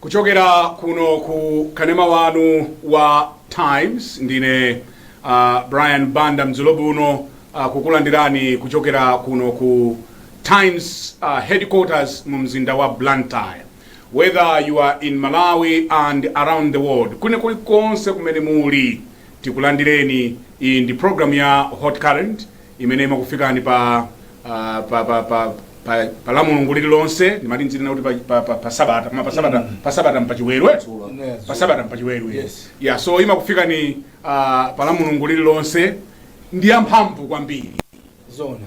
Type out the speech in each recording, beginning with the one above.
kuchokera kuno ku kanema wanu wa times ndine uh, brian banda madzulo ano uh, kukulandirani kuchokera kuno ku Times headquarters mu mzinda wa Blantyre. Whether you are in Malawi and around the world, kwina kuli konse kumene muli, tikulandireni. Iyi ndi program ya Hot Current imene imakufikani pa ah, pa pa pa pa, pa la mulungu lililonse ndimati ndizinena kuti pa, pa, pa, pa sabata koma pa sabata pa sabata mpachiwelwe Yeah, pa sabata mpachiwelwe Yes. yeah so imakufikani ah, pa la mulungu lililonse ndi yamphamvu kwambiri zona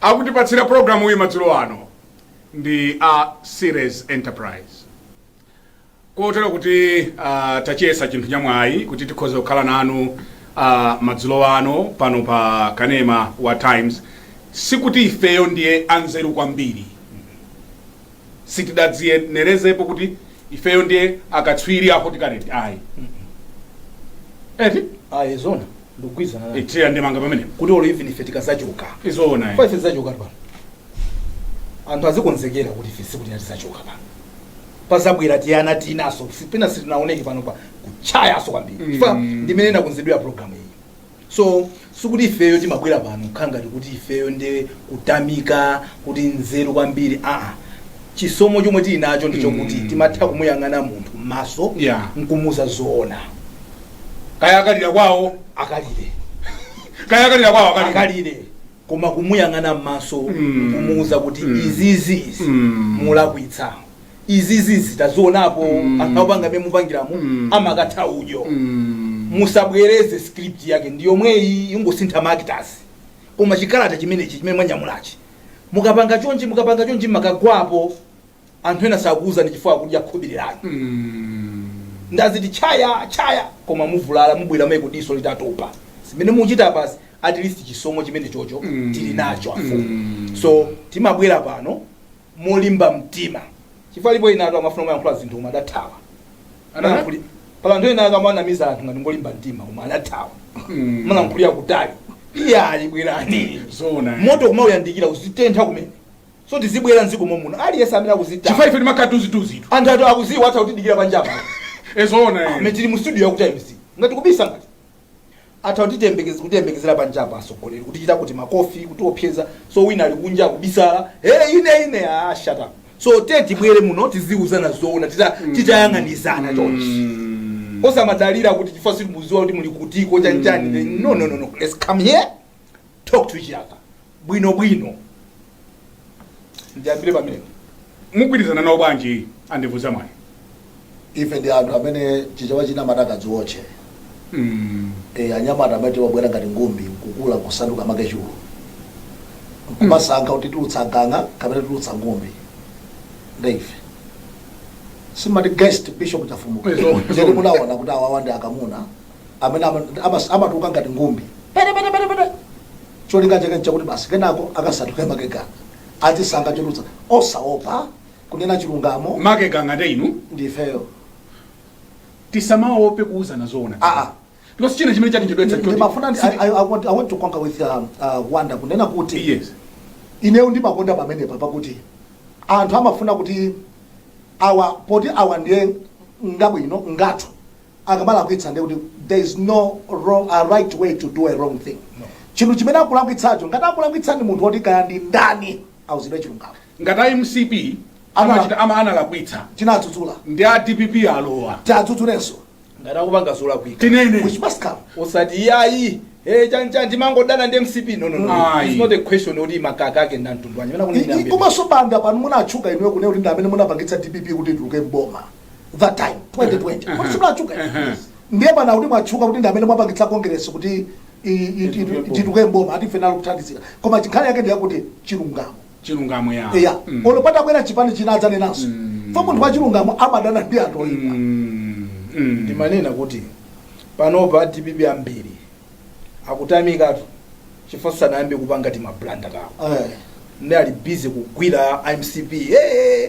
Akutipatsira programuyi madzulo ano ndi a Series Enterprise. Kotero kuti uh, tachiyesa chinthu chamwayi kuti tikhoze kukhala nanu uh, madzulo ano pano pa kanema wa Times sikuti ifeyo ndife anzeru kwambiri sitidadziyenerezepo kuti ifeyo ndife akatswiri a Hot Current ayi eti ayi zona ndikugwirizana nayo itiyo ndemanga pamenepo kuti olo even ife tikazachoka ee zoona kwa ife tizachoka pano anthu azikonzekera kuti ife siku lina tizachoka pano pazabwera tiyana tinaso sitina sitinaoneke pano pa kuchayaso kwambiri Mm. chifukwa ndimene inakonzedwera programu iyi so sikuti ifeyo timabwera pano kukhala ngati kuti ifeyo nde kutamika kuti nzeru kwambiri aa chisomo chomwe tili nacho ndi chokuti Mm. timatha kumuyang'ana munthu m'maso Yeah. nkumuuza zoona kaya akalira kwawo akalire kaya akalira kwawo akalira akalire koma kumuyang'ana m'maso Mm. kumuuza kuti Mm. izizi izi Mm. mulakwitsa izizi tidazionapo mm. anthu akupanga mmene mupangiramo mm. amakatha udyo mm. musabwereze script yake ndi yomweyi kungosintha ma actors koma chikalata chimenechi chimene mwanyamulachi mukapanga chonchi mukapanga chonchi mukagwapo anthu ena sakuuzani chifukwa akudya khobiri lake mm. ndaziti chaya chaya koma muvulala mubwerako diso litatopa simenemo muchita pasi at least chisomo chimene chocho mm. tili nacho afumu mm. so timabwera pano molimba mtima chifukwa alipo enatu amafuna kumayankhula zinthu koma adathawa anayankhuli pali anthu ena ake amanamiza anthu ngati ngolimba mtima koma adathawa amalankhulira kutali iyayi bwerani zoona moto kumauyandikira uzitentha kumene so tizibwera mdziko momuno aliyense amene akuzichita chifukwa ife timakhala tuzituzitu anthu athu akuziwa atha kutidikira panjapa ee zoona mmene tili mu studio yaku times ngati kubisa ngati atha kutiyembekeza kutiyembekezera panjapo atsogoleri kutichita kuti makofi kutiopseza so wina ali kunja kubisala hey ine ine ah shut up so te tibwere muno tiziuzana zoona tita titayang'anizana chonchi osamangodalira kuti chifukwa simuziwa kuti muli kutiko chanchani no no no no let's come here talk to each other bwino bwino ndiyambire pamene mugwirizana nawo bwanji andevu zamwayi ife ndi anthu amene chichewa chimati akadziwotche mm. e, anyamata amene abwera ngati ngumbi kukula kusanduka makechulu nkumasankha kuti titulutsa ganga kapena titulutsa ngumbi nde ife simati guest bishop chafumuka Izo- chete munaona kuti awawa ndi akamuna amene ama- amas- amatuluka ngati ngumbi pete pete pete pete cholinga chake nchakuti basi kenako akasanduke makegana atisanga chotulutsa osaopa kunena chilungamo makega ngati inu ndifeyo tisamaope kuuzana zoona aa because china chimene chatichedwetsa ndimafuna ndi- I- I- I want- I want to concur with um, uh, banda kunena kuti yes ineyo ndimakonda pamenepa pakuti anthu amafuna kuti awa poti awa ndiye ngabwino ngathu akamalakwitsa ndiye kuti there is no wrong, a right way to do a wrong thing chinthu chimene akulakwitsacho ngati akulakwitsa ndi munthu woti kaya ndi ndani auzidwe chilungamo ngati a mcp Ana- amachita ama analakwitsa tinadzudzula nde a dpp alowa tiadzudzulenso ngati akupanga zolakwika tinene chimzake osati iyayi eh chanchani mangodana ndi mcp no no no Ayi. it's not a question oti makaka ake ndantundwanya I- i- komanso banda pano munatchuka inuyo kunena kuti ndi amene munapangitsa dpp kuti ituluke mboma that time 2020 kodi munatchuka ndiye pano kuti mwatchuka kuti ndi amene mwapangitsa congress kuti i- i- Ituke itu- mboma. ituluke mboma ati ife nalo kuthandizira koma nkhani yake ndiyakuti chilungamo chilungamo ya eya Mm. olo patabwera chipani china adzanenanso fo munthu wachilungamo amadana ndi anthu oyipa Mm. Mm. ndimanena kuti panopa dpp ambiri akutamikatu chifukwa sanayambe kupanga timablanda tawo Eh. ndi ali busy kugwira mcp hey,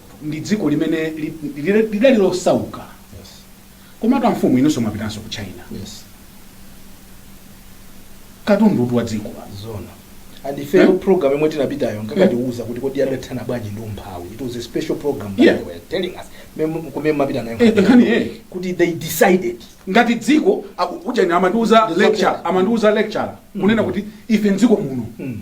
ndi dziko limene li- li- lidali losauka Yes. komatu amfumu inunso mwapitanso ku china Yes. katundu uti wa dziko Zona. And if Eh? the program imwe tinapitayo nkakatiuza kuti kodi adathana bwanji ndi umphawi. It was a special program that Yeah. they were telling us. Mem- Kumene mapitanako. Eh, nkhani eh Kuti they decided. ngati dziko aku- uja ine amandiuza Ndi lecture zote. amandiuza lecture kunena kuti ife mdziko muno Mm.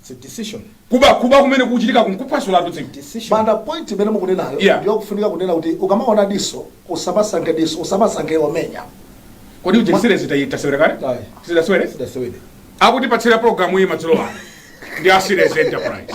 It's a decision. kuba kuba kumene kukuchitikaku nkuphwasulatu dziko Decision. Banda point imene mukunenayo Yeah. ndiyofunika kunena kuti ukamaona diso usamasankhe diso usamasankhe omenya kodi ujeni zita- tasewera kale Ayi. zidasewere sidasewere akutipatsira programu iyi madzulo ano ndi asires enterprise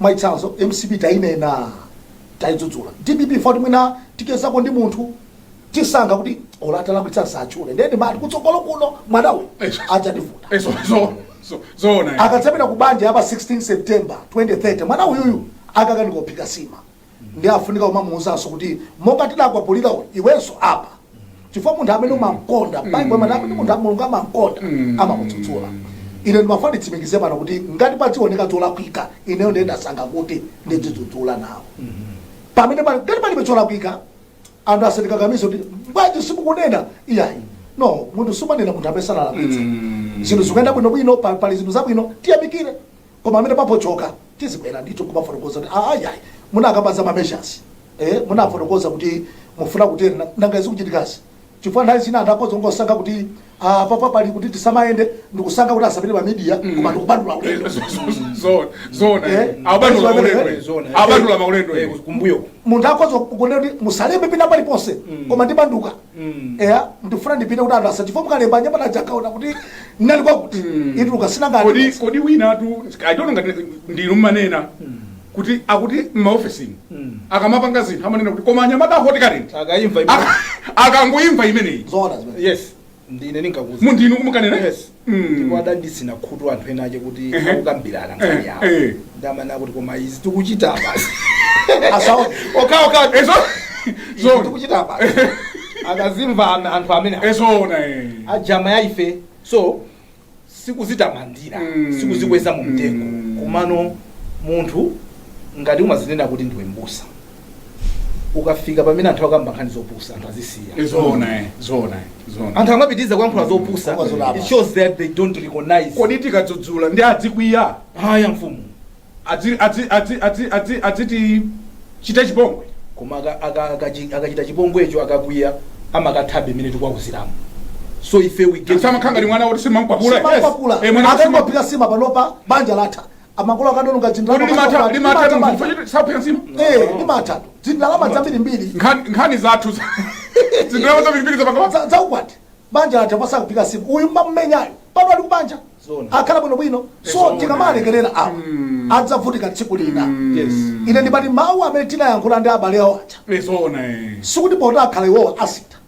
Mwachitsanzo, mcp tayinena, tayidzudzula. Dpp poti mwina tichezako ndi munthu, tisankha kuti olo atalakwitsa msatchule. Ndiye ndimati kutsogolo kuno mwana uyu Eish. adzativuta. Eh, zo- zo- zo- zoona eh. Akadzapita ku banja yapa 16 September 2030 mwana uyuyu akakanika kuphika nsima. nde afunika kumamuuzanso kuti monga tidakwapulira uyu iwenso apa chifukwa munthu amene umamkonda Bible imati amene munthu a- mulungu amamkonda amamudzudzula ine ndimafuna nditsimikize pano kuti ngati padzioneka zolakwika ineyo ndiye ndasankha kuti ndidzidzudzula nawo pamene pali ngati palibe cholakwika anthu asandikakamize kuti bwanji simukunena iyayi no munthu sumanena munthu amene sanalakwitsa zinthu zikuyenda bwinobwino pa- pali zinthu zabwino tiyamikire koma pamene papochoka tizibwera ndithu nkumafotokoza kuti "Ah, ayi ayi munakamba za ma measures eh, munafotokoza kuti mufuna kutera na- nanga zikuchitikazi chifukwa nthawi zina anthu akoza kungosankha kuti ah, papa pali kuti tisamayende ndikusankha kuti asapite pa media koma ndikubandula ulendo Zoona, zoona. Eh? Abandula maulendo. eh. Zoona, eh. Abandula maulendo. eh. kumbuyo munthu akoza kunena kuti musalembe pina paliponse koma ndibanduka eya ndifuna ndipite kuti anthu asa- chifukwa mukalemba anyamata aja akaona kuti ndinali kwakuti ituluka sinanga kodi aliyense. kodi winatu i don't know ngati ndinu mmanena kuti akuti m'maofesini akamapanga zinthu amanena kuti koma anyamata a Hot Current akayimva Aka- akangoimva imeneyi zoona zimene yes ndine ndinkakuuza mm ndinu munkanena Yes. Mm. ndipo adanditsina khutu anthu ena ache kuti Ehe. akukambirana Eh, nkhani yawo eh. nde amanena akuti koma izi tikuchita basi asawo okaoka Eh zo- izi Zoona. tikuchita basi akazimva am- anthu amene Eh zoona eh. ajama ya ife so sikuzitamandira Mm. sikuzikweza mu mtengo Mm. komano munthu ngati umazinena kuti ndiwe mbusa ukafika pamene anthu akamba nkhani zopusa anthu azisiya Eh, zoona eh, zoona eh, zoona anthu amapitiriza kuyankhula zopusa Koma zolapa. it shows that they don't recognize kodi tikadzudzula nde adzikwiya haya mfumu adzi- adzi- adzi- adzi- adzi- adzitichita chipongwe koma aka- aka- akachi- akachita chipongwecho akakwiya amakathabe mmene tikuwauziramo so ife we get- samakhala ngati mwana woti simamkwapula Simamkwapula. Eh, mwana woti sima- akangophika nsima panopa banja latha amakolo akadaononga Kuti ndalama limatha zambiri, limatha limathatu banja. chifukwa sakuphika nsima. Eh, limatha zindalama zambirimbiri Nkhani nkhani zathu za- zindalama zambirimbiri zapakapa. za za ukwati banja latha pa za kuphika nsima uyu amamumenyayo pano ali kubanja Zoona. akhala bwino bwino so Zoona. tikamalekerera awa adzavutika tsiku lina Yes. ine ndimati mawu amene tinayankhula ndi abale awo aja Zoona eh. sikuti poti akhala iwowo asintha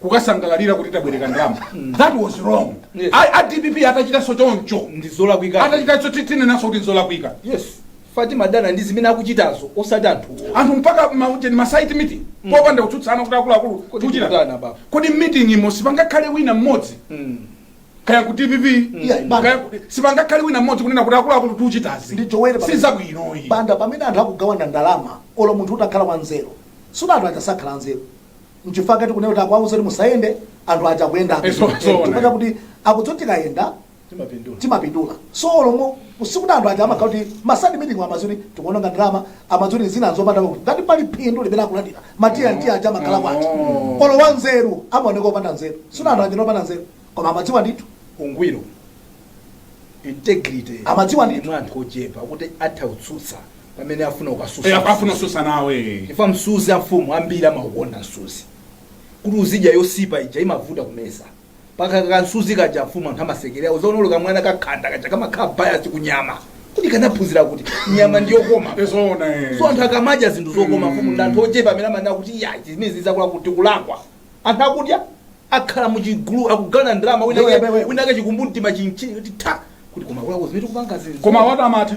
kukasangalalira kuti tabwereka ndalama that was wrong Yes. A- a dpp atachitanso choncho ndizolakwika atachitanso tinenanso kuti nzolakwika yes fatima dana ndi zimene akuchitazo osati anthu anthu mpaka maujeni masaiti meeting popanda kutsutsana kuti akuluakulu Kodi tikuchita tikutani baba? kodi meeting imo sipangakhale wina mmodzi Mm. kaya ku dpp Yeah, bana. kaya ku- sipangakhale wina mmodzi kunena kuti akuluakulu tikuchitazi Ndi Joel baba. sizabwinoyi banda pamene anthu akugawana ndalama olo munthu utakhala wanzeru sikuti anthu aja sakhala anzeru nchifukwa kati kunena kuti akuwauza kuti musayende anthu aja akuyendabe Eh, so- so- chifukwa chakuti akudziwa kuti tikayenda timapindula timapindula so olomo usikuti anthu aja amakhala kuti masaiti meeting amazuni tikuononga ndalama amazuni zina zopanda kuti ngati pali phindu limene akulandira matiya ndi aja amakhala kwati Oh. olo wa nzeru amaoneka opanda nzeru sina anthu aja opanda nzeru koma amadziwa ndithu ungwiro integrity Amadziwa ndi- mwa anthu ochepa kuti atha kutsutsa pamene afuna Eh, ukasusa apa afuna kususa nawe chifukwa msuzi amfumu ambiri amaukonda msuzi kuti uzidya yosipa ija imavuta kumeza paka kansuzi kaja amfumu anthu amasekerera uzaonolo kamwana kakhanda kaja kamakhala bias kunyama kuti kanaphunzira kuti nyama ndiyokoma ezoona eh. so anthu akamadya zinthu zokoma mfumu ndi anthu ochepa amene amanena kuti ya zimene zizakula kuti kulakwa anthu akudya akhala muchigulu akugawana ndalama Wewe, wewe. winake chikumbumtima chimuuza kuti ta kuti koma kulakwa zimene tikupanga zinthu koma watu amatha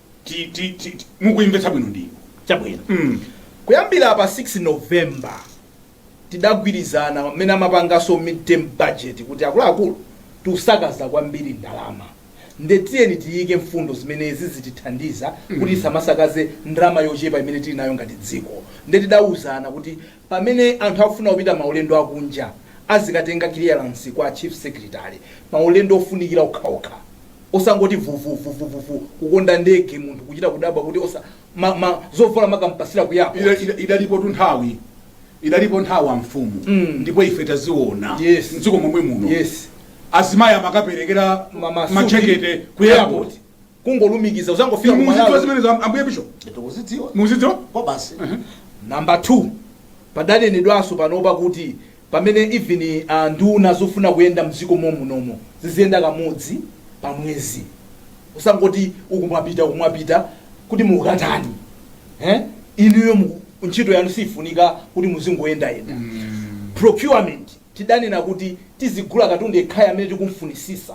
ti- ti- ti- ti- mukuimvetsa bwino ndinu chabwino Mm. kuyambira pa 6 november tidagwirizana mmene amapanganso midterm budget kuti akuluakulu tikusakaza kwambiri ndalama nde tiyeni tiyike mfundo zimenezi zitithandiza kuti tisamasakaze ndalama yochepa imene tili nayo ngati dziko nde tidawuzana kuti Pamene anthu akufuna kupita maulendo akunja azikatenga clearance kwa chief secretary maulendo ofunikira okhaokha osangoti vuvuvuvuvuvu kukonda ndege munthu kuchita kudabwa kuti osa ma ma zovala amakampatsira ku Ida- airport. ida- idalipotu nthawi idalipo nthawi amfumu Mm. ndipo ife taziona Yes. mdziko momwe muno Yes. azimayi amakaperekera Mamasuti. majekete ku airport kungolumikiza uzangofika ku muzidziwa malawi zimenezo am- ambuye bishop ndikuzidziwa muzidziwa kwa basi namba 2 padanenedwanso panopa kuti pamene even uh, nduna zufuna kuyenda mdziko momunomo ziziyenda kamodzi pa mwezi osangoti uku mwapita uku mwapita kuti mukatani eh? inuyo mu- ntchito yanu siyifunika kuti muzingoyendayenda procurement tidanena kuti tizigula katundu yekhayo amene tikumfunisisa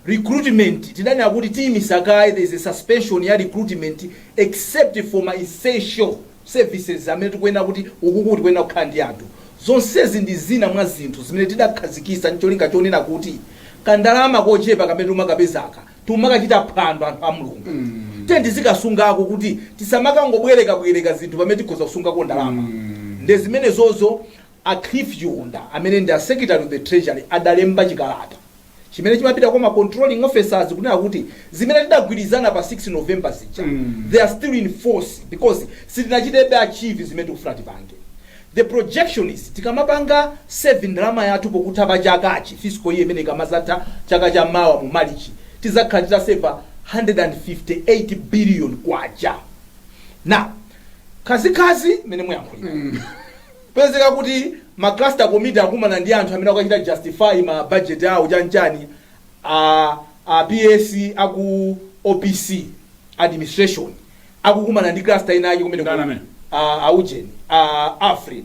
Recruitment tidanena kuti tiyimisa kaye, there is a suspension ya recruitment except for ma essential services amene tikuyenera kuti ukuku tikuyenera kukhala ndi anthu. Zonsezi ndi zina mwa zinthu zimene tidakhazikisa ndi cholinga chonena kuti kandalama kochepa kamene timakapezaka nkumakachita phwando anthu a Mulungu. Tiyeni tizikasungako kuti tisamakangobwerekabwereka zinthu pamene tikhoza kusungako ndalama. Nde zimenezozo A Cliff Chiunda amene ndi a Secretary to the Treasury adalemba chikalata chimene chimapita kwa ma controlling officers kunena kuti zimene tidagwirizana pa 6 November zija they are still in force because sitinachitebe achieve zimene tikufuna tipange. The projection is tikamapanga save ndalama yathu pokutha pa chakachi, fiscal year imeneyi ikamadzatha chaka cha mawa mu Marichi, tidzakhala titaseva K158 billion. Now, khazikhazi mmene muyankhuliramo. Kupezeka kuti ma cluster committee akumana ndi anthu amene akukachita justify ma budget awo chani chani a a PS aku opc administration akukumana ndi cluster ina yake kumene Ndani amene? a a Ujeni a Alfred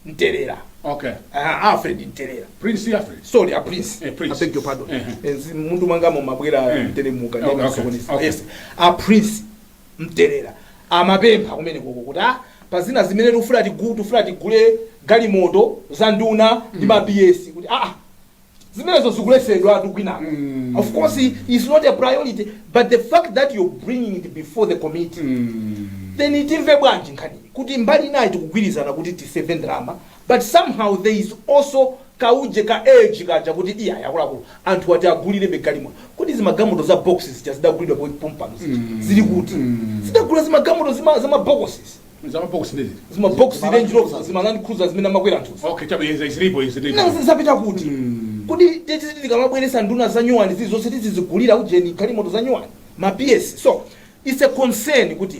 Mtelera okay a Alfred Mtelera prince alfred sorry a prince Eh, Prince. i beg your pardon Eh, Eh, zi- mmutu mwangamo mabwera Eh. mteremuka Okay, okay, okay. yes a prince mtelera amapempha kumenekoko kuti a pazina zimene tikufuna tigu tifuna tigule galimoto za nduna ndi ma PS kuti aa zimenezo zikuletsedwatu kwinako of course it's not a priority but the fact that you're bringing it before the committee then timve bwanji nkhani kuti mbali inayi tikugwirizana kuti tiseve ndalama But somehow there is also kauje ka urge kaja kuti iyayi akuluakulu anthuwa tiagulirebe galimoto. Kodi zimagalimoto za box zija zidagulidwa pomwe pompano zija zili kuti? Zidagula zimagalimoto zima zama bokosi Za mabox ndi ziti. zima box Range Rover zima Land Cruiser zimene amakwera anthuzi. Okay, chabe izi zilipo izi zilipo. Nanga zapita kuti? Kodi tititi tikamabweretsa nduna za nyuwani zilizonse tizizigulira ujeni galimoto za nyuwani ma PS. So it's a concern kuti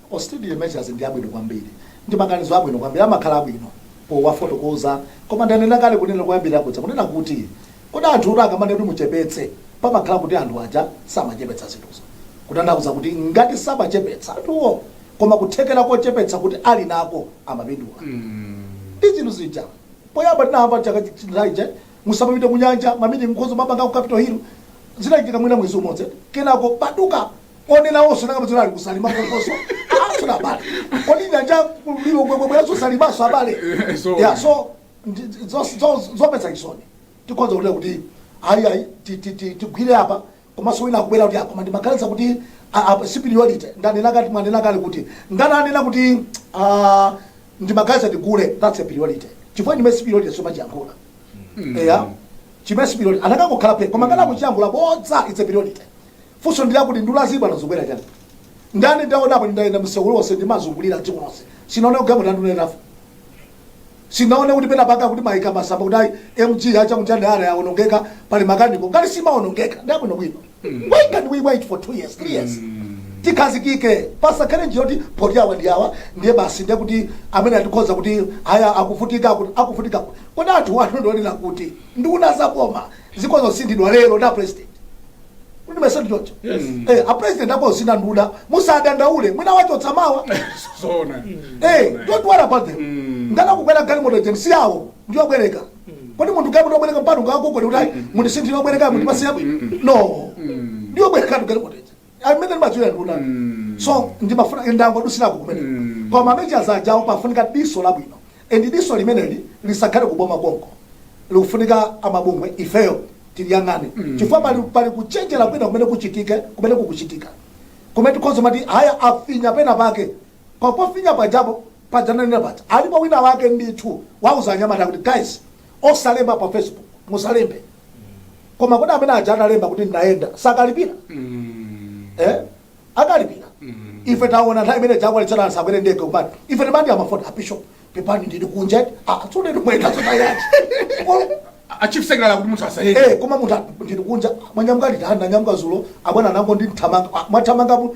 Austerity measures ndi abwino kwambiri ndi maganizo abwino kwambiri amakhala abwino powafotokoza koma ndanena kale kunena koyambirira kuja kunena kuti kodi anthutu akamanena kuti muchepetse pamakhala kuti anthu aja samachepetsa zinthuzo kutanthauza kuti ngati samachepetsa anthuwo koma kuthekera kochepetsa kuti ali nako amapindula ndi zinthu zija poyamba tinayamba chaka chatha chija musamapite kunyanja ma meeting mukhoza mapanga ku capital hill zinachitika mwina mwezi umodzi kenako patuka onenawonso anakapezeka ali ku Salima konkonso asona abale kodi nyanja ku Lilongwe bwera za Salimanso abale Eh, so- ya so ndi- zo- zo- zomvetsa chisoni tikhoza kutera kuti ayi ayi ti- ti- ti- tigwire apa komanso wina akubwera kuti a koma ndimaganiza kuti a- a- si priority ndanena kuti mwanena kale kuti ngati anena kuti ah, ndimaganiza ndigule that's a priority chifukwa chimene si priority sumachiyankhula eya chimene si priority anakangokhala phe koma ngati akuchiyankhula bodza it's a priority Funso ndilakuti nduna zi bwana zubwera chani? Ndani ndaonapo ndayenda msewu lonse ndimazungulira dziko lonse. Sinaone galimoto ya nduna itafa. Sinaone kuti pena paka kuti maika masamba kuti ayi MG HM chande ara yaonongeka pali makaniko. Ngati simaonongeka ndabwino bwino. Why can't we wait for 2 years, 3 years? tikhazikike pasakhale zoti poti awa ndi awa ndiye basi ndiye kuti amene atikhoza kuti aya akuvutika akuti akuvutika kuti kodi anthu wanu ndionena kuti nduna zaboma zikhoza kusinthidwa lero ndi apresident kuti si choncho Eh, apresident akusintha nduna musadandaule mwina wachotsa mawa Zoona. Eh, don't worry about them ngana kukwera galimoto ujeni si yawo ndiyobwereka kodi munthu galimoto yobwereka mpaka ngakugoni kuti ayi mundisinthire obwereka mundipasiyapo no ndiyobwereka tu galimoto ujeni amene amazuya nduna Mm. so ndimafuna ndingodutsirako kumene Mm. koma measures ajawo pafunika diso labwino and diso limeneli lisakhale kuboma konko likufunika amabungwe ifeyo tiliyang'ane chifukwa pali, pali kuchenjera kwina kumene kuchitike kumene kukuchitika kumene tikhoza kumati aya afinya pena pake papofinya pajapo pajananena paja alipo wina wake ndithu wauza anyamata kuti guys osalemba pa facebook musalembe koma kodi amene aja analemba kuti ndayenda akalipira Mm. eh? akalipira Mm. ife taona nthawi imene jakwalitsana anthu akwere ndege kumati ife timati timafona abishop pepani ndili kunja tsono ndi mwayenda zotani A chief secretary akuti munthu asayende. Eh, koma munthu ndili kunja mwanyamuka liti nanyamuka zulo abwana ndinangothamanga mwathamangapo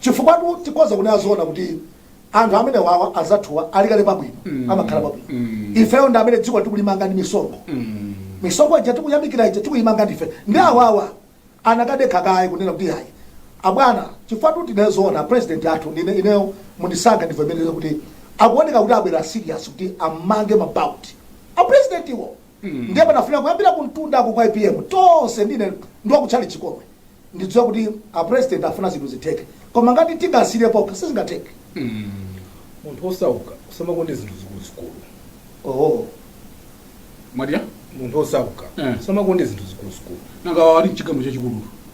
Chifukwatu tikhoza kunena zoona kuti anthu amenewawa azathuwa ali kale pabwino amakhala pabwino ifeyo ndi amene dziko tikulimanga ndi misonkho misonkho ija tikuyamikira ija tikuyimanga ndife ndiye awawa anakadekha kaye kunena kuti ayi abwana chifukwatu tinene zoona president athu nde ineyo mundisankha ndivomereze kuti akuoneka kuti abwera serious kuti amange mabauti a president iwo ndiye panafunika kuyambira kumtundako kwa apm tonse ndine ndi wakutchalitchi chomwe ndidziwa kuti a president afuna zinthu zitheke koma ngati tingasire pokha sizingatheke munthu osauka usamakonde zinthu zikuluzikulu oho mwadya munthu osauka Eh. usamakonde zinthu zikuluzikulu nanga ali mchigalimoto chachikulu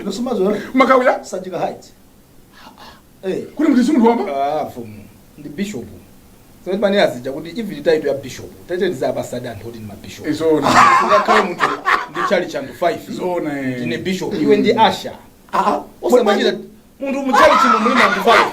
Ino sumazo makawira Sanjika Heights. Eh, Kuli munthu si munthu wamba? ah mfumu ndi bishop. Tsopano zija kuti even title ya bishop. Title za pastor anthu kuti ndi ma bishop. Nzoona. Ngakhale munthu ndi church anthu 5. Zoona, eh. Ndine bishop. Iwe ndi asha. Ah, Osamanyira munthu mu church mo muli ma anthu 5.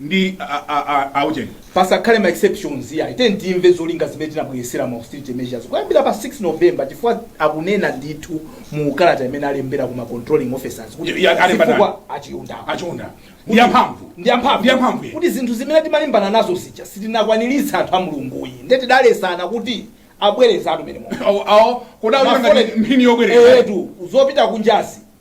ndi a, a, a, a ujeni. Pasakhale ma exceptions iyayi. Tiyeni timve zolinga zimene tinabweretsera ma austerity measures kuyambira pa 6 November chifukwa akunena ndithu mu kalata imene alembera ku ma controlling officers kuti Ya- ya- alemba zifukwa ndani? a Chihunda. A Chihunda. Ndi yamphamvu. Ndi yamphamvu. Ndi yamphamvu, yeah. Kuti zinthu zimene timalimbana nazo zija sitinakwaniritse anthu a Mulungu iyayi. Nde tidaletsana kuti abwerezatu amene Mulungu. Awo- awo, kodi awo Ma ngati foreign- mphini yobwereza. Eyetu, zopita kunjazi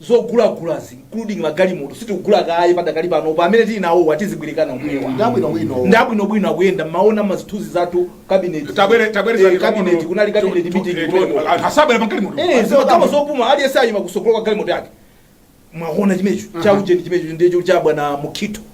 zogulagulazi including magalimoto sitikugula kaye padakali panopa amene tili nawowa tizibwerekana omwewa Ndi abwinobwino. ndi abwinobwino akuyenda mmaona mazithunzi zathu kabineti Tabwere- tabwerezani Eh, kabineti pang'ono. kunali kabineti Tu- tu- meeting eh, kumeneko. anthu asabwera pagalimoto. Eh, zimakhala zopuma aliyense ayima kutsogolo kwa galimoto yake mwaona chimenecho chaujeni chimenecho ndicho cha bwana mukhito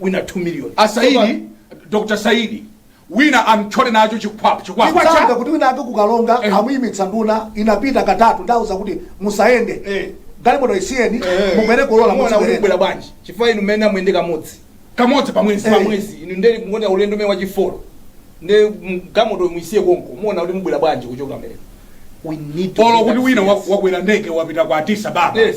wina 2 million asaidi dr saidi wina amthyole nacho chikwapa chikwapa Nditanga cha kuti wina ake kukalonga Eh. amuyimitsa nduna inapita katatu ndauza kuti musayende Eh. galimoto isiyeni Eh. mubwere kolola Muona kuti muzibwera kubwera bwanji chifukwa inu mmene amuyende kamodzi kamodzi pamwezi Eh. pamwezi inu nde muona ulendo umene wachifolo nde galimoto muisiye konko muona kuti mubwera bwanji kuchoka mbere we need to olo be kuti that wina serious. wakwera ndege wapita kwa addis ababa yes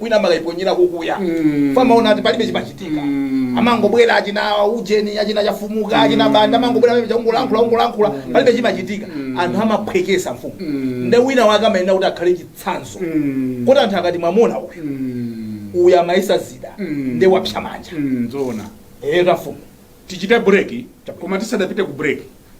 wina amakaiponyera kukuya Mm. famaona ati palibe chimachitika Mm. amangobwera achina ujeni achina chafumuka achina banda amangobwera pamene chakungolankhula kungolankhula palibe chimachitika anthu amaphwekesa mfumu Mm. nde wina wake amayenera kuti akhale chitsanzo Mm. kuti anthu akati mwamuona uyu Mm. uyu amayesa dzida Mm. nde wapsa manja Mm, zoona eyo mafumu tichite break koma tisadapite ku break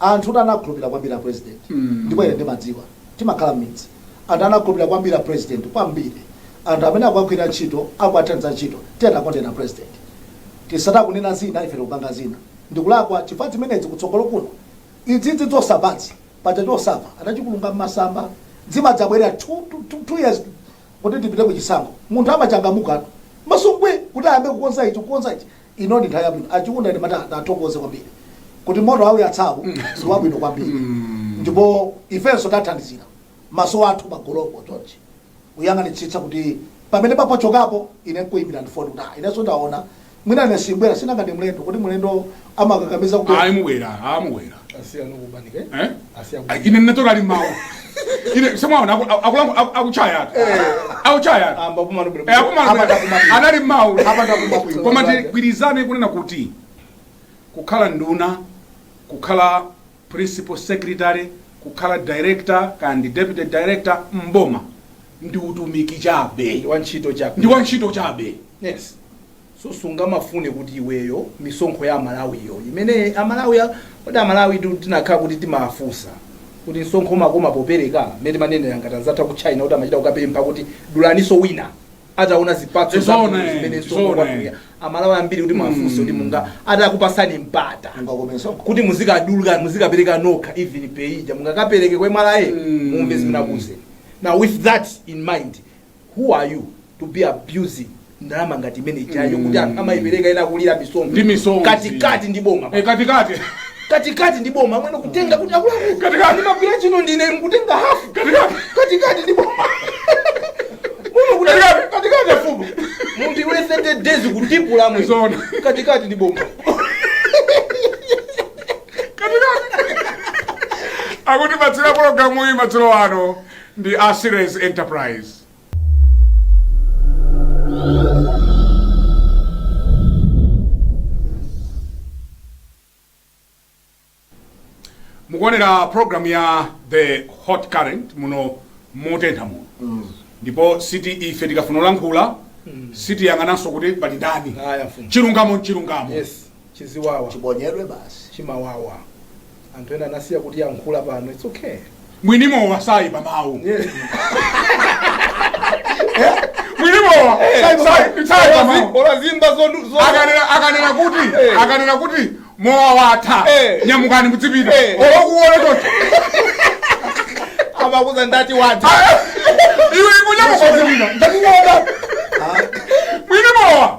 anthutu anakhulupirira kwambiri a president ndipo ine ndimadziwa timakhala mmidzi anthu anakhulupirira kwambiri a president kwambiri anthu amene akuwagwirira ntchito akuwathandiza ntchito tiyeni tikondere president tisati akunena zina ife tikupanga zina ndikulakwa chifukwa zimenezi kutsogolo kuno izizi zosapsazi paja chosapsa anachikulunga mmasamba zimadzabwerera two, two, two, two years kuti tipite ku chisankho munthu amachangamuka masungwe kuti ayambe kukonza ichi kukonza ichi ino ndi nthawi yabwino achiunda ndimati ndithokoze kwambiri kuti moto awuyatsawu ndi wabwino kwambiri ndipo ifenso tathandizira maso athu pamotopo chonchi kuyang'anitsitsa kuti pamene paphotchokapo ine nkuyimbira ndifoni kuti ah, inenso ndaona mwina ine simbwera si nanga ndi mlendo kuti mlendo amakakamiza kubwera ayi mubwera amubwera eh? ine ndinatoka ali mawu ine semwaona akuchaya atu akuchaya atu Eh, akumana anali mawu koma tigwirizane kunena kuti kukhala nduna kukhala principal secretary kukhala director kaya ndi deputy director mboma ndi utumiki chabe ndi wantchito chabe yes so sungamafune kuti iweyo misonkho ya amalawiyo imene amalawi a- kodi amalawi tu- tinakhala kuti timafunsa kuti msonkho umakoma popereka mmene timanenera ngati anzathu aku china kuti amachita kukapempha kuti dulaninso wina ataona zipatso It's zabwino all right, zimene it's msonkho all right. wathu ya amalawi ambiri muti mwafunsa kuti munga atakupasani mpata ungakomenso kuti muzikaduluka muzikapereka nokha even paye ija mungakapereke ku mra Mm. mumve zimene akuuzeni now with that in mind who are you to be abusing ndalama ngati imene ijayo kuti anthu amayipereka ena kulira misonzi Ndi misonzi. katikati ndi boma Eh, katikati katikati ndi boma amwene kutenga kuti akulaku Katikati. ndimagwira chino ndine nkutenga hafu Katikati. katikati ndi boma muno kuti Katikati. katikati afumu munthu iwe 30 days kutipula mwe Zona. katikati ndi boma akutipatsira pologalamu iyi madzulo ano ndi a Ceres Enterprise. mukuonera program ya the hot current muno motentha muno ndipo si ife tikafuna kulankhula sitiyang'ananso kuti pali ndani Aya, mfumu. chilungamo nchilungamo Yes. Chiziwawa Chiponyedwe basi. chimawawa. Anthu ena anasiya kutiyankhula pano it's okay. Mwini mowa saipa mawu. Mwini mowa Saipa sai- mawu. saipa mawu. Ola zimba zonu- zonu- Akanena akanena kuti Eh. akanena kuti mowa watha Eh. nyamukani mudzipita. Eh. Olokuona choncho. amakuuza ndati watha Iwe nkunyamuka mudzipita. Ndakuona. Mwini mowa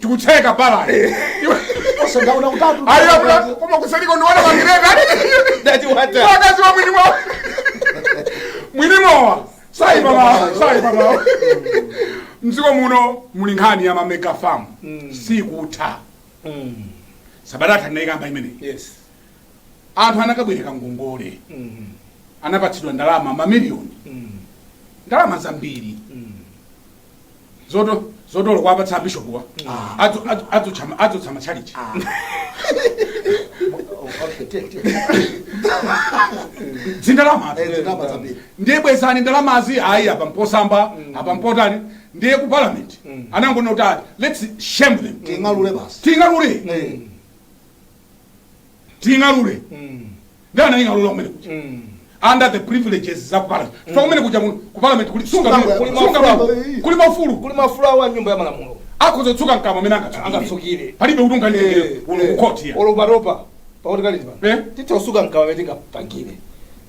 tikutseka balance Ose ndaona utatu. ayo abula koma kusaliko ndiwana magireta Ndati watha. wakazi wa mwini mowa mwini mowa sayipa mawu sayipa mawu mdziko muno muli nkhani ya mamega farm sikutha Mm. sabata yatha ndinayikamba imene Yes. anthu anakabwereka ngongole Mm. anapatsidwa ndalama mamiliyoni Mm. ndalama zambiri Mm. zoto zoti olo kuwapatsa bishopuwa Adzu- adzu- adzutsa ma- adzutsa matchalichi Okay, take, take. zindalama Eh, zindalama zambiri. ndiye bwezani ndalamazi ayi apa mposamba apa mpotani ndiye ku parliament anangonena kuti ati let's shame them Ting'alule basi. ting'alule Eh, ting'alule ndi anaying'alula kumene kuja under the privileges za parliament chifukwa kumene kuja mu- ku parliament kuli sunga Kuli bwino, mafulo. sunga bwino, kuli maufulu kuli maufulu awo a nyumba ya malamulo akhoza kutsuka mkamwa mmene angatsukire angatsukire palibe kuti unganditengere kuno ku court ya oloparopa pakuti kali Eh? pano titha kutsuka mkamwa mmene tingapangire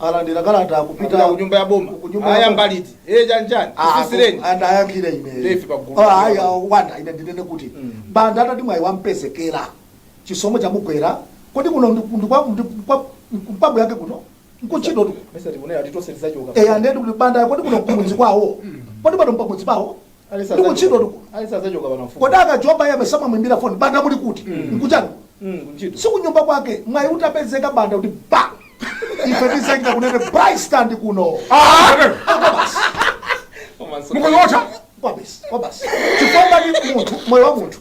alandira kalata Apita kupita ku nyumba ya boma. ku nyumba ya Aya boma. mbaliti. Eh chani chani. Ah, Kusisireni. and ayankhire ine Ndefe pa gulu. Ah, ayi, ah, wanda ine ndinene kuti Mm. banda atati mwayi wampezekera chisomo chamugwera kodi kuno ndi- ndi kwa- ndi kwa- mphamvu yake kuno nkuntchitotu Mesa tikunena ti tonse tizachoka. eya ndedi kuti banda kodi kuno kumudzi kwawo kodi pano m'pamudzi pawo Alisa Ndi kuntchito zachoka- tuku. Alisa zachoka pano mfumu. kodi akajoba yabe samamwimbira foni banda muli kuti nkuchani Mm, kuntchito. si kunyumba kwake mwayi utapezeka banda kuti ba ife tizingakunena bristand kuno Komanso- mukunyotha kwabasi kwabasi chifukwa ndi munthu moyo wa munthu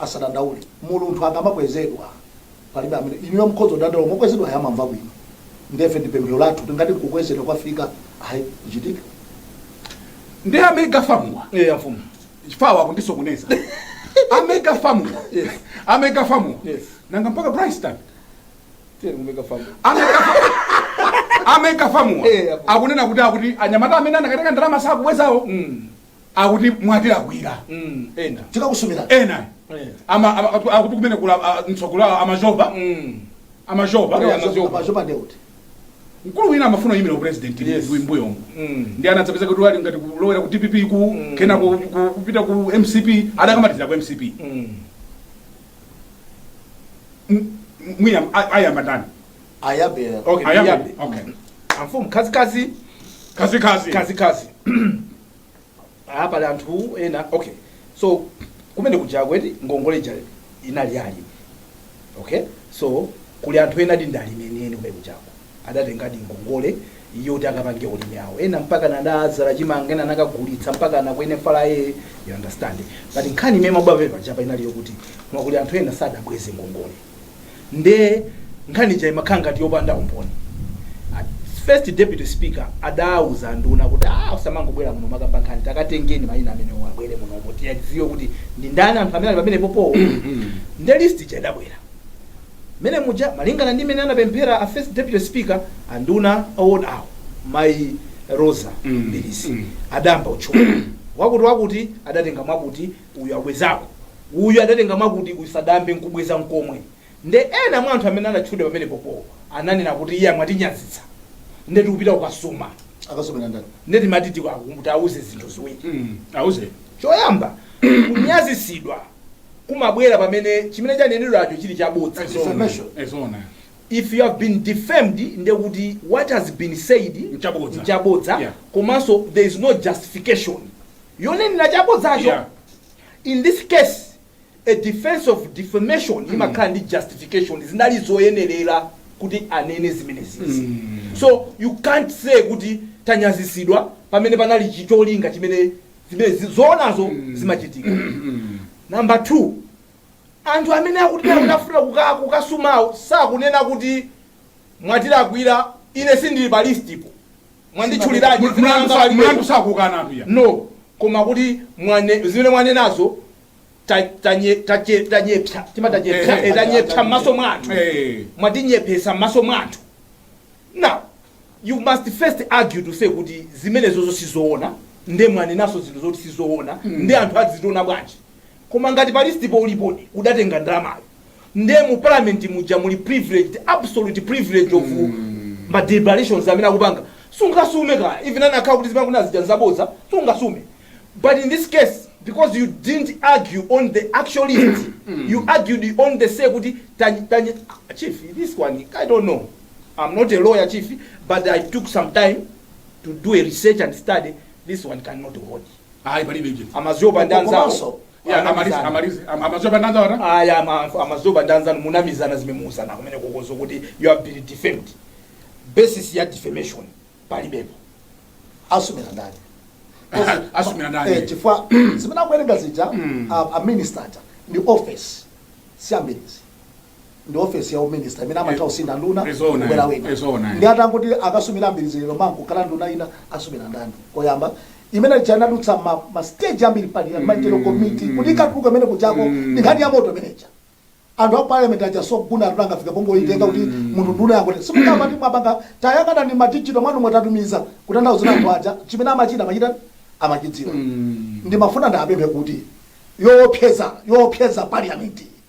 asadandaule munthu akamakwezedwa palibe amene inuyo mukhoza kudandaula koma okwezedwayo amamva bwino ndiye ife ndi pemphero lathu tingati kukwezedwa kwafika ayi kuchitika ndi amega famuwa eya mfumu chifawa kundisokoneza amega famuwa Yes. amega famuwa Yes. nanga mpaka brystan tiye kumeka famu amega famuwa Eh, apo. akunena kuti akuti anyamata amene anakatenga ndalama sakubwezawo Mm. akuti mwatilakwira Mm, ena tikakusumira ena Eh. ama- ama- akuti- akuti kumene kula ah, mtsogolo awo amazhova Mm. amazhova Kodi amazo- amazopa nde kuti mkulu wina amafuna kuyimira upresident Yes. mbuyomo Mm. nde anadzapeza kuti ali ngati kulowera ku dpp ku Mm. kena ku- ku- kupita ku mcp adakamalizira ku mcp Mm. M- m- mwina a- ayamba ndani ayambe ayambe. Okay, Ayambe. ndiyambe. Okay. amfumu khazikhazi Kazi kazi. khazikhazi apa pali anthu ena okay so kumene kuja kuti ngongole ija inali ya alimi okay so kuli anthu enadi ndi alimi enieni kumene kujako adatengadi ngongole yoti akapange ulimi wawo ena mpaka anadzala chimanga ena anakagulitsa mpaka nakwene fala ye you understand but nkhani imene imabwera pepa ija apa inali yokuti koma kuli anthu ena sadabweze ngongole nde nkhani ija imakhala ngati yopanda umboni A- first deputy speaker adauza nduna kuti ah usamangobwera muno nkumakamba nkhani takatengeni mayina amenewa abwere munomo tiyadziwe kuti ndi ndani anthu amene ali pamene popowo nde list ija idabwera mene muja malingana ndi mene anapemphera a first deputy speaker anduna awadi awo mai rosa Mm, Mbilizi mm. adayamba kutchula wakuti wakuti adatenga mwakuti Uyu abwezako, uyu adatenga mwakuti, uyu sadayambe nkubweza nkomwe. Nde ena mwa anthu amene adatchulidwa pamenepopowo ananena kuti, Iya, mwatinyazitsa. Nde tikupita kukasuma. Akasumira ndani? Nde timati tiwauze zinthu ziwiri. mm. Auzeni. Choyamba, kunyazitsidwa kumabwera pamene chimene chanenedwacho chili chabodza. Ezo- Defamation. Ezona. If you have been defamed, nde kuti what has been said Nchabodza. nchabodza, Yeah. komanso there is no justification. yonenera chabodzacho Yeah. in this case a defense of defamation imakhala ndi justification zinali zoyenerera kuti anene zimenezizi so you can't say kuti tanyazitsidwa pamene panali cholinga chimene zimene zi- zoonazo zimachitika number two anthu amene akuti akufuna kuka- kukasumawo sakunena kuti mwatilakwira ine sindili pa listipo mwanditchuliradi dzina Mlandu langa sa- palibe. mlandu sakukana anthu ya no koma kuti mwane- zimene mwanenazo ta- tanye- tache- tanyepsa tima tanyepsa Eh, eh, eh, tanyepsa m'maso mwa anthu Eh. mwatinyepesa m'maso mwa anthu now you must first argue to say kuti zimenezozo sizoona nde mwanenaso zinthu zoti sizoona nde anthu azitiona bwanji Koma ngati pa list po ulipodi udatenga ndalamayo nde mu parliament muja muli privileged absolute privilege of ma deliberations amene akupanga sungasume kaya even anakhala kuti zimene kunazija nzabodza sungasume but in this case because you didn't argue on the actual list you argued on the say kuti tanyi tanyi Ah, chief this one i don't know i'm not a lawyer chief but i took some time to do a research and study this one cannot hold Ayi palibe ichi. A Mazoba ndi anzawo. Komanso, Ya amalize anamizana. amalize. Am- A Mazoba ndanza wata. aya ama- a Mazoba ndi anzanu munamizana zimene muuzana kumenekoko zokuti you have been defamed basis ya defamation palibepo asumira ndani Ah, asumira ndani? Eh, chifukwa zimene akuwerenga zija Mm. a- a minister aja ndi office si ya Mbilizi ndi ofesi ya uminista imene amatha kusintha nduna Ndi zoona, kubwera wina ndi zoona. ndi atangoti akasumira Mbilizi lero mawa kukhala nduna ina asumira ndani koyamba imene ija inadutsa ma, ma stage ambiri parliamentary committee kuti ikatuluka imene kujako ndi nkhani ya moto imeneja anthu a parliament aja soguna atuna angafika pongoitenga kuti munthu nduna yakuti simukamba ndi mwapanga tayakana ni madigital mwanu mwatatumiza kutanthauza anthu aja chimene amachita amachita amachidziwa ndimafuna ndapemphe kuti yoopseza yoopseza parliament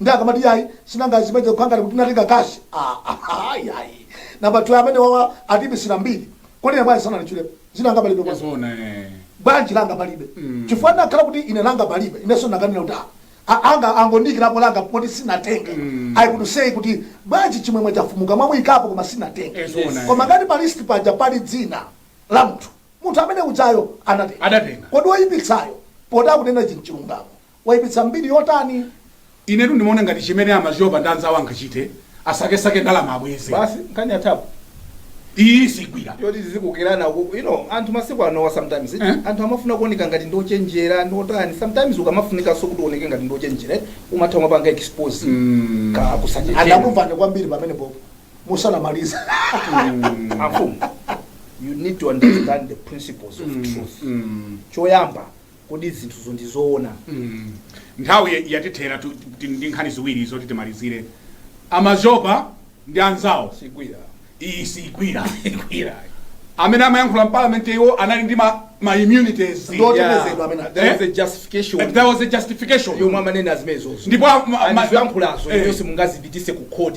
nde akamati yayi sinanga zimene kukhala ngati kuti natenga kashi ayayi namba two amene wawa atiipitsira mbiri kodi ine bwanji sananditchulepo dzina langa palibe kwa Zona eh. bwanji langa palibe Mm. chifukwa ndakhala kuti ine langa palibe inenso ndakanena kuti ah, a- anga angondiikirapo langa poti sinatenge Mm. I could say kuti bwanji Chimwemwe Chafumuka mwamuyikapo koma sinatenge Eh, zona, eh. koma ngati pa list paja pali dzina la munthu munthu amene ujayo anatenga Adatenga. kodi woyipitsayo poti akunena chinthu chilungamo Waipitsa mbiri yotani? Inetu ndimaona ngati chimene a Mazoba ndi anzawo angachite asakesake ndalama abweze. Basi? Nkhani yathapo? Iyi siigwira. Yoti tizikokerana uku. You know, anthu masiku anowa sometimes eti, Eh? anthu amafuna kuoneka ngati ndi ochenjera, ndi otani. Sometimes ukamafunikanso kuti uoneke ngati ndi ochenjera, eh, umatha kumapanga expose Mm. ka kusachenjera. Anakumvani kwambiri pamenepo musanamalize. Amfumu, you need to understand the principles of truth. Mm. Choyamba, Kodi zinthuzo ndi zoona? Nthawi yatithera tili ndi nkhani ziwiri zoti timalizire. A Mazoba ndi anzawo iyi siigwira. Amene amayankhula m'Parliament iwo anali ndi ma ma immunities. Ndi otetezedwa amenewo. There was a justification. There was a justification. Yomwe amanena zimenezozo. Ndipo a ma. Zoyankhulazo inuyo simungazipititse ku court.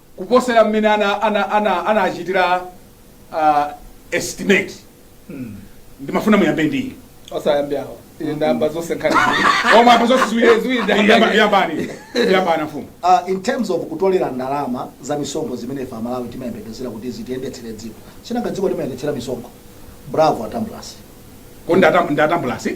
kuposera mmene ana ana ana anachitira uh, estimate ndimafuna muyambe ndiye osayambe awo ine ndayamba zonse nkhani koma apa zonse ziwiri ziwiri Yamba- ndayamba yambani yambani mfumu Uh, in terms of kutolera ndalama za misonkho zimene ife amalawi timayembekezera kuti zitiyendetsere dziko sinanga dziko timayendetsera misonkho bravo a Tambulasi ko nda Tambulasi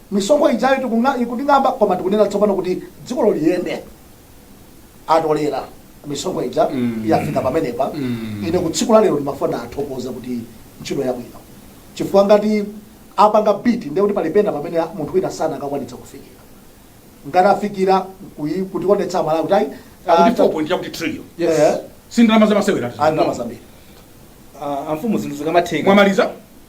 Misonkho ijayo tikung'a, ikuting'amba koma tikunena tsopano kuti dzikolo liyende. Atolera misonkho ija Mm. yafika pamenepa. Mm. Ine kwa tsiku la lero ndimafuna ndithokoze kuti ntchito yabwino. Chifukwa ngati apanga beat ndiye kuti pali pena pamene munthu wina sanakakwanitsa kufikira. Ngati afikira kuyi- kutionetsa Amalawi kuti ayi ah, akuti ta- 4 point yakuti trillion Yes. Eh. si ndalama zamasewera ah, ndalama zambiri. Ah, amfumu zinthu zikamatheka. mwamaliza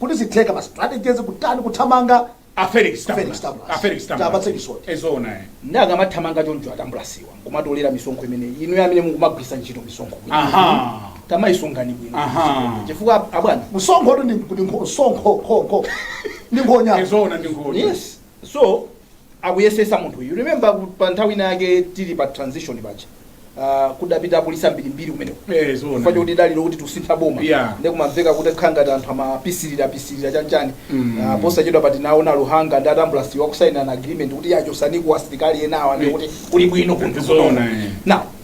kuti zitheka ma strategies kutani kuthamanga A Felix Ku Felix Tambulasi. Tambulasi. A Felix Tambulasi. Tiwapatse chisoti. Eh, zoona eh. nde akamathamanga choncho a Tambulasiwa nkumatolera misonkho imene inu amene mukumagwisa ntchito misonkho bwino. Aha. tamaisungani bwino Aha. chifukwa abwana Msonkhotu ndi ndi nkho- msonkho kho kho. Ndi nkhonya. Eh, zoona ndi nkhonya. yes so akuyesesa munthu you remember ku- pa nthawi ina yake tili pa transition paja uh, kudapita apolisi ambirimbiri kumeneko Eh, zoona. chifukwa choti dali loti tikusintha boma Yeah. ndi kumamveka kuti nkhangati anthu amapisilira pisilira chanchani Mm. Ah, posachedwapa tinaona Luhanga ndi a Tambulasiwa akusainana agreement kuti iyayi chotsaniko asilikali enawa nde kuti kuli bwino kunthu Zoona, kuno. eh. now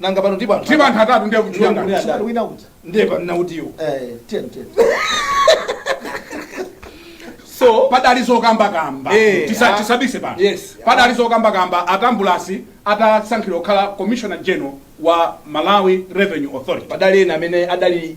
nanga pano ndipo ndipo anthu atatu ndiye kuti Ndiye kuti- Mkulu wina uja. ndiye pano nautiyo Eh, ten, ten. so padali zokambakamba Eh, Tisa- ah. tisabise pano Yes. padali zokambakamba a Tambulasi atasankhidwa kukhala commissioner general wa malawi revenue authority padali ena amene adali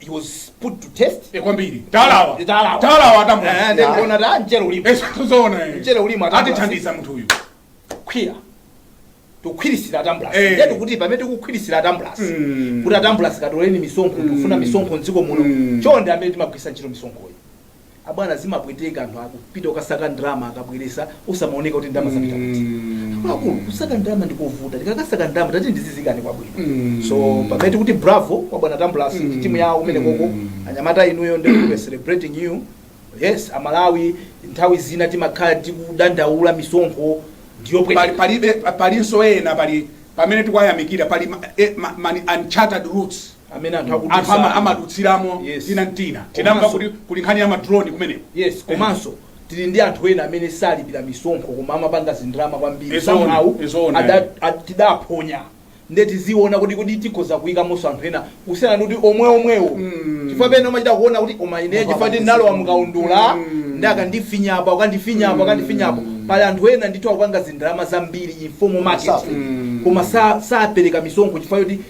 he was put to test Eh, kwambiri talawa Eh, talawa. talawa Eh, atamwa ndiye kuona da mchele ulipo Eh, zoona eh. Mchele ulimo atamwa. atithandiza munthu uyu kukhwira tikukhwirisira a Tambulasi Eh. ndiye tikuti pamene tikukhwirisira a Tambulasi Mm. kuti a Tambulasi katoleni misonkho tikufuna misonkho mdziko muno Mm. chonde amene timagwirisa ntchito misonkhoyi abwana zimapweteka anthu akupita kukasaka ndalama akabwelesa osamaoneka kuti ndalama zapita kuti akuluakulu kusaka ndalama ndikovuta tikakasaka ndalama tati ndi zizikhala kwabwino so pamene tikuti bravo kwa bwana tambulasi ndi timu yawo kumenekoko anyamata inuyo ndi we celebrating you yes amalawi nthawi zina timakhala tikudandaula misonkho ndiyopweteka pali palibe palinso ena pali pamene tikuwayamikira pali ma, eh, ma, ma, uncharted routes amene anthu anthu ama- akudutsa amadutsiramo Yes. tina mtina tinamva Komanso- kuti kuli nkhani ya ma drone kumeneko yes komanso tili ndi anthu ena amene salipira misonkho koma amapanga zindrama kwambiri Izoona, somehow izoona. ada- a- tidaphonya nde tiziona kuti kuti tikhoza kuyikamonso anthu ena kusiyana ndi kuti omwe omwewo chifukwa pena umachita kuona kuti koma ine chifukwa kuti ndalowa mukaundula nde akandifinya apa akandifinya apa akandifinya apa pali anthu ena ndithu akupanga zindrama zambiri informal market Safe. koma sa- sapereka misonkho chifukwa kuti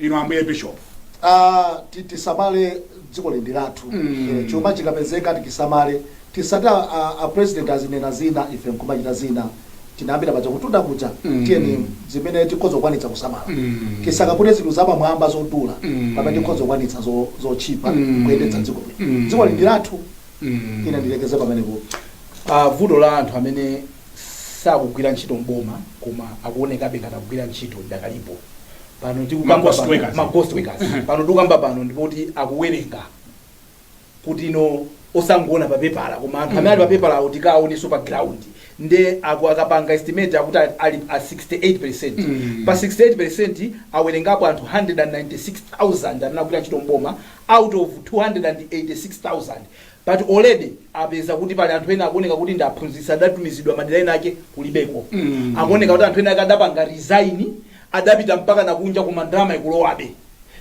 inu ambuye bishop Ah, ti- tisamale dziko lindi lathu Eh, chuma chikapezeka tichisamale tisati a- a- a president azinena zina ife nkumachita zina tinayambira pajatu kutunda kuja tiyeni zimene tikhoza kukwanitsa kusamala tisakapute zinthu zapamwamba zodula pamene tikhoza kukwanitsa zo- zotchipa kuyendetsa dziko lino dziko lindi lathu ine ndilekeze pamenepo Ah, vuto la anthu amene sakugwira ntchito mboma koma akuonekabe ngati akugwira ntchito idakalipo pano tikukamba Ma ghost pano- workers. ma ghost workers. pano tikukamba pano ndi poti akuwerenga kuti no osangoona pa pepala koma anthu amene ali pa pepala awo tikaonenso pa ground nde aku akapanga estimate akuti ali- ali a 68 Mm. pa 68 awerengapo anthu 196000 amene akugwira ntchito mboma out of 286000 but already apeza kuti pali anthu ena akuoneka kuti ndi aphunzitsi adatumizidwa madera enaake kulibeko Mm. akuoneka kuti anthu enaake adapanga resign adapita mpakana kunja koma ndalama ikulowabe.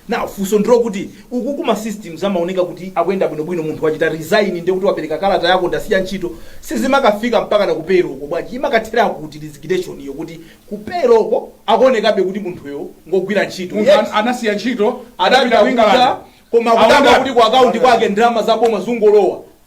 Now funso ndilokuti uku kuma systems amaoneka kuti akuyenda bwino bwino munthu wachita resign ndiye kuti wapereka kalata ya kuti ndasiya ntchito sizimakafika mpakana ku payroll ko bwanji imakathera kuti resignation yo kuti ku payroll ko akuonekabe kuti munthuyo ngogwira ntchito munthu yet an- anasiya ntchito adapita adapita ku england kunja koma kudabwa Aonda- kuti ku akaunti kwake ndalama za boma zikungolowa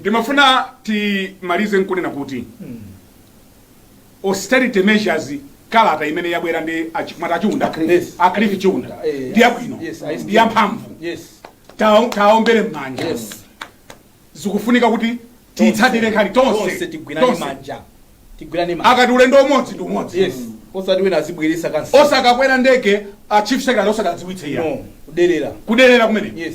Ndimafuna timalize nkunena kuti austerity measures kalata imene yabwera ndi achi- mwati achiunda Yes. a Cliff Chiunda Eh, yes. ndi yabwino Yes, I- ndi yamphamvu Yes. Tawo- tawombere m'manja Yes. zikufunika kuti tiyitsatire nkhani Tonse tonse tigwirane tonse. manja. Tigwirane manja. akati ulendo umodzi ndi umodzi Yes. Osati wina azibweretsa kansa. osakakwera ndege a chief secretary osawadziwitsa iya No. Kuderera. kuderera kumene Yes.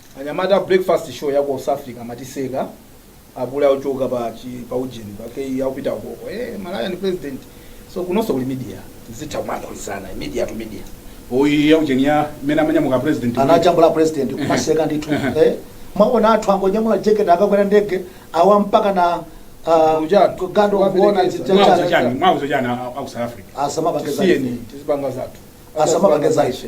Anyamata a breakfast show ya ku south africa amatiseka apule akuchoka pa chi pa ujeni pake akupita ukoko eh malaya ndi president so kunonso kuli media zitha kumanolizana media to media oyi ya ujeni ya mmene amanyamuka president anajambula president kumaseka ndithu Ehe. eh mwaona anthu angonyamula jacket akakwera ndege awa mpaka na ah, Ujatu. gando kuona Waperekeza. zitata- mwauza chani mwauza chani a- a- a ku south africa asamapakeza siyeni tizipanga zathu Asamapakeza ife.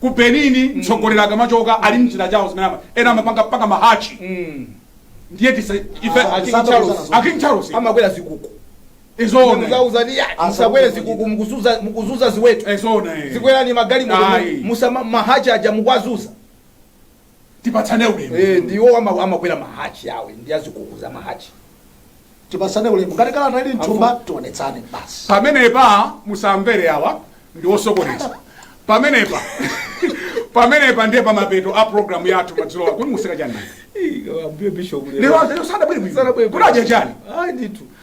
Ku Benin mtsogoleri akamachoka ali m'njira chawo zimene ama- ena amapanga mpaka mahachi ndiye tisati ife Ah, King Charles. a King Charles amakwera zikuku izona muziwauza ya Ah, musakwere sakuti zikuku mukuzunza mukuzunza ziweto izona eh. muzikwera magalimoto Ayi. musama mahachi aja mukuwazunza tipatsane Eh, ulemu ndiwo ama- amakwera mahachi awa ndi azikuku za mahachi tipatsane ulemu ngati kalata ili mthumba tionetsane basi pamenepa musamvere awa ndi osokoneza pamenepa pamenepa ndiye pamapeto a programu yathu madzulo kuti mukuseka chani lero lero sadabwere bwino kuti adya chani ayi ndithu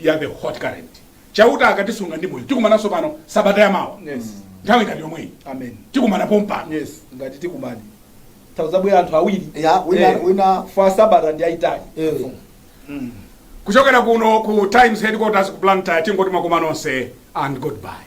ya the hot current chauta akatisunga ndi moyo tikumananso pano sabata ya mawa yes nthawi ngati yomweyi amen tikumana pompano yes ngati tikumane tawuzabwera anthu awiri ya wina Eh. wina for sabata ndi yayitali Eh. kuchokera kuno ku times headquarters ku blantyre tingoti makoma nonse and goodbye